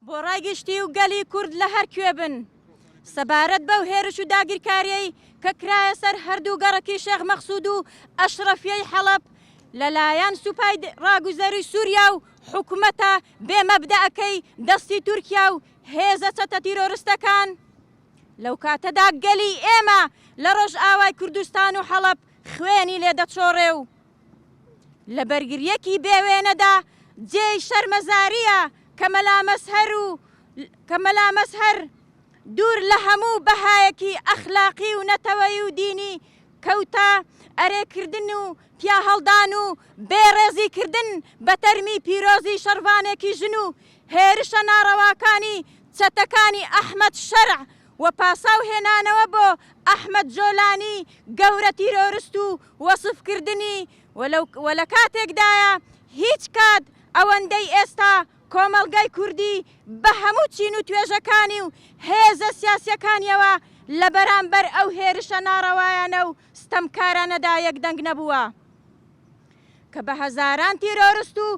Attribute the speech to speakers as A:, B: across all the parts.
A: بۆ ڕای گشتی و گەلی کورد لە هەر کوێ بن، سەبارەت بەو هێرش و داگیرکارییەی کە کرایە سەر هەردوو گەڕەکی شێخ مەقسوود و ئەشڕەفییەی حەڵەب لە لایەن سوپای ڕاگوزەری سووریا و حکومەتە بێ مەبدەئەکەی دەستی تورکیا و هێزە چەتە تیرۆرستەکان لەو کاتەدا گەلی ئێمە لە ڕۆژئاوای کوردستان و حەڵەب خوێنی لێ دەچۆڕێ و لە بەرگریەکی بێ وێنەدا جێی شەرمەزاریە کە مەلا مەزهەر و کە مەلا مەزهەر دوور لە هەموو بەهایەکی ئەخلاقی و نەتەوەیی و دینی کەوتە ئەرێ کردن و پیاهەڵدان و بێ ڕێزی کردن بە تەرمی پیرۆزی شەڕڤانێکی ژن و هێرشە ناڕەواکانی چەتەکانی ئەحمەد شەرع و پاساو هێنانەوە بۆ ئەحمەد جۆلانی گەورە تیرۆرست و وەسف کردنی و لە کاتێکدایە هیچ کات ئەوەندەی ئێستا کۆمەڵگای کوردی بە هەموو چین و توێژەکانی و هێزە سیاسیەکانیەوە لە بەرامبەر ئەو هێرشە ناڕەوایانە و ستەمکارانەدا یەک دەنگ نەبووە کە بە هەزاران تیرۆرست و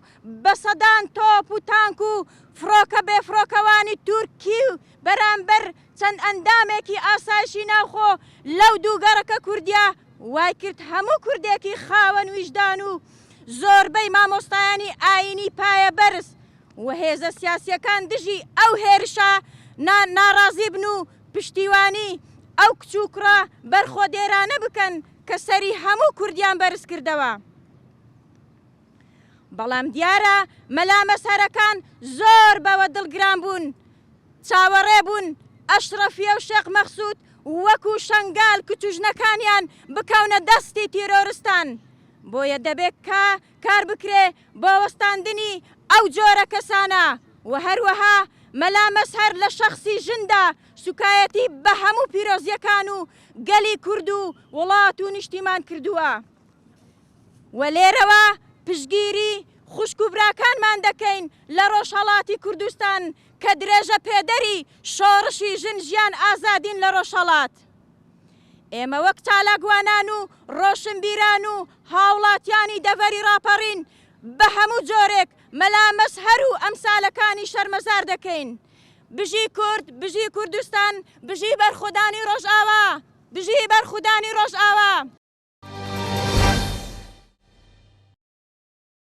A: بە سەدان تۆپ و تانک و فڕۆکە بێفڕۆکەوانی تورکی بەرامبەر چەند ئەندامێکی ئاسایشی ناوخۆ لەو دوو گەڕەکە کوردیە وای کرد هەموو کوردێکی خاوەن ویژدان و زۆربەی مامۆستایانی ئایینی پایە بەرز و هێزە سیاسیەکان دژی ئەو هێرشە نا ناڕازی بن و پشتیوانی ئەو کچ و کوڕە بەرخۆدێرانە بکەن کە سەری هەموو کوردیان بەرز کردەوە. بەڵام دیارە مەلا مەزهەرەکان زۆر بەوە دڵگران بوون چاوەڕێ بوون ئەشڕەفیە و شێخ مەخسوود وەکوو شەنگال کچ و ژنەکانیان بکەونە دەستی تیرۆرستان بۆیە دەبێ کا کار بکرێ بۆ وەستاندنی ئەو جۆرە کەسانە و هەروەها مەلا مەزهەر لە شەخسی ژندا سوکایەتی بە هەموو پیرۆزیەکان و گەلی کورد و وڵات و نیشتیمان کردووە. و لێرەوە پشتگیری خوشک و براکانمان دەکەین لە ڕۆژهەڵاتی کوردستان کە درێژەپێدەری شۆڕشی ژن ژیان ئازادین لە ڕۆژهەڵات. ئێمە وەک چالاکوانان و ڕۆشنبیران و هاوڵاتیانی دەڤەری ڕاپەڕین بە هەموو جۆرێک مەلا مەزهەر و ئەمسالەکانی شەرمەزار دەکەین. بژی کورد، بژی کوردستان، بژی بەرخۆدانی ڕۆژئاوا. بژی بەرخودانی ڕۆژئاوا.